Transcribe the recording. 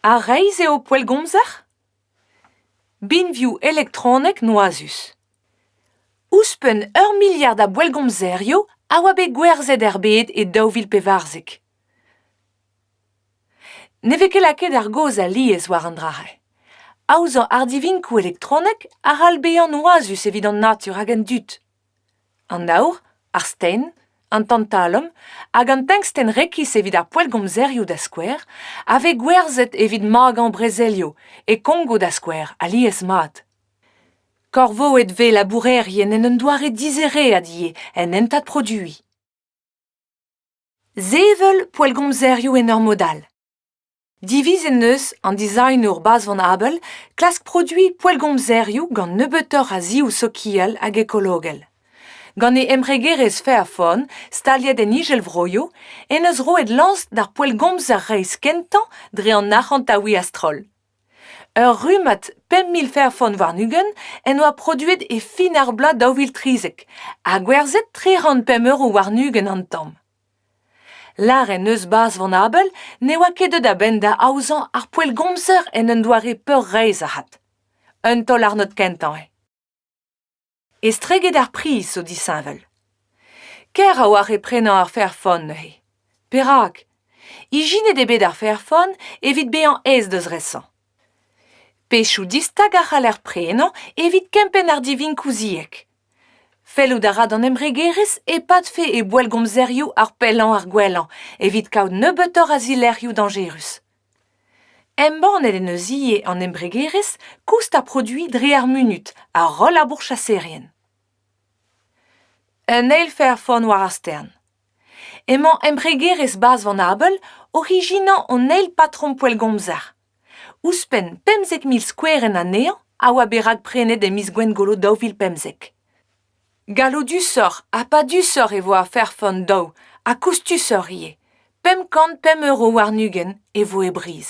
Ha reizh eo poellgomzer? Binvioù elektronek noazus. Ouzhpenn ur miliard a boellgomzerioù a oa bet gwerzhet er bed e daou vil pevarzek. Ne vez ket lakaet ar gaoz alies war an dra-se. Aozañ ardivinkoù elektronek a c'hall bezañ noazus evit an natur hag an dud. an aour ar sten an tantalum hag an tenkstenn rekis evit ar poellgomzerioù da skouer a vez gwerzhet evit magañ brezelioù e kongo da skouer alies-mat korvoet vez labourerien en un doare dizereet ivez en hentad produiñ sevel poellgomzerioù en ur mod all Diviz en deus an dizagnour Bazvan Abel klask produiñ poellgomzerioù gant nebeutoc'h a zioù sokial hag ekologel. Gant e embregerezh Fairphone, staliet en Izelvroio, en deus roet lañs d'ar poellgomzer reizh kentañ dre an arc'hantaouiñ a-stroll. Ur rummad pemp mil Fairphone warn-ugent en doa produet e fin ar bloaz daou vil trizek ha gwerzhet tri c'hant pemp euro warn-ugent an tamm. Lâret 'neus bazh Van Abel ne oa ket deut a-benn da aozañ ar poellgomzer en un doare peurreizh avat. Un taol-arnod kentañ eo. Estreget ar priz zo disheñvel. Kaer a-walc'h eo prenañ ar Fairphone neuze. Perak? Ijinet eo bet ar Fairphone evit bezañ aes da zresañ. Pechoù distag a c'haller prenañ evit kempenn ardivinkoù-ziek. Fellout a ra d'an embregerezh e-padfe e boellgomzerioù ar pellañ ar gwellañ evit kaout nebeutoc'h a zilerc'hioù dañjerus. Embannet en deus ivez an embregerezh koust ar produiñ dre ar munud ha roll ar bourchaserien. Un eil fairfonn war ar stern. emañ embregerezh bazh van abel orijinañ an eil patrom poellgomzer ouzhpenn pemzek mil skouerenn anezhañ a oa bet rakprenet e miz gwengolo daou vil pemzek gallodusoc'h ha padusoc'h e vo afer fun daou ha koustusoc'h ivez pemp kant pemp euro warn-ugent e vo e briz